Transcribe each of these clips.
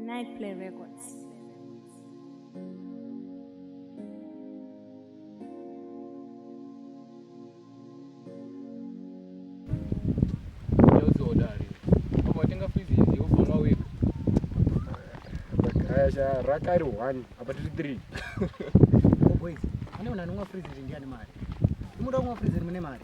Nightplay Records. Sasha rakari one apa tiri three boys ane munhu anonwa freezing ndiani mari imoda kunwa freezing mune mari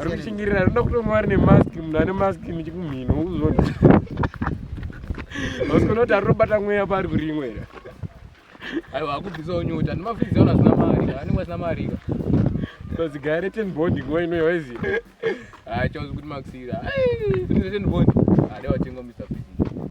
Ari kushingirira anoda kutonga vari nemask munhu ane mask nechikumhino ukuzvona. Vasikona kuti arikubata mweya paari kurimwe here. Aiwa akubvisawo nyota nemafrizi aona zina marika anenge asina marika. Kozi gaya reten bond nguva ino yawaizi. Ah chauzi kuti makusira. Ai, kuti reten bond. Ah, dai watenga Mr. Fizzy.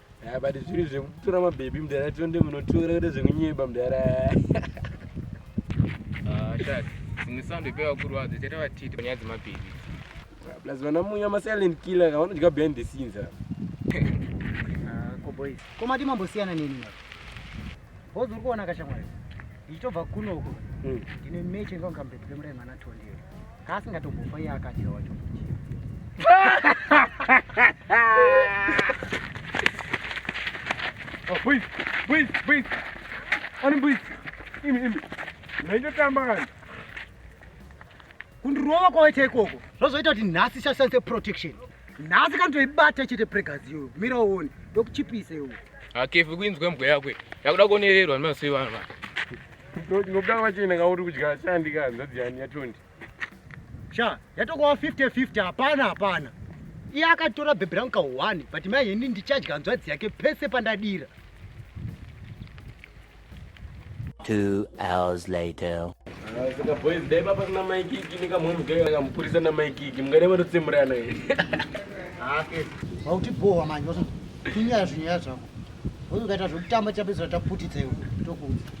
Ah, but zviri zvekutora mabhebhi mudara tonde munotora kuda zvekunyeba mudara ah, dzimwe sound ipevakuru vadzo chaita vatiti panyaya dzemabhebhi ah, plus vana munya masilent killer kavanodya behind the scenes koboys komati mambosiyana neni Bozi uri kuona kashamwari ndichitobva kuno uko hmm. ndine meche ndonga mberi kwemurai mwana tondero kaasingatombofa iye akadya wacho oh, Boys, boys, boys. Ani boys. Imi, imi. Naitotamba kani. kundirova kwawaita ikoko zvozoita kuti nhasi isashandise protection nhasi kanotoibata chete pregazi iyoyo mira uone ndokuchipisa iwo akefi kuinzwa mbwa yako yakuda kuonererwa nemasei vanhu va ndingobuda kwachena kauri kudya shandi ka hanzvadzi yani yatondi sha yatokowa 50 50 hapana hapana iye akatora bhebhi rangu ka one but mai ini ndichadya hanzvadzi yake pese pandadira Two hours later. Ah, saka boys dai baba kuna mai kiki nekamwe mugaya akamupurisa na mai kiki mungade vanotsemurana here hake vautibhohwa manje waso kunyaya zvinyaya zvako uyu ukaita zvekutamba chapedzisira taputitsa iwe tokuudza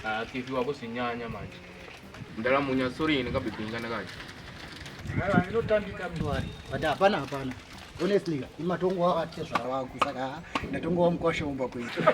hake ah, fifi wako zvinyanya manje ndalamunya sorry ini kabibinga ndakacho mara ndinotambika mndwari but hapana hapana honestly imatongo wakati zvara wangu saka ndatongo wamukwasha umba kuita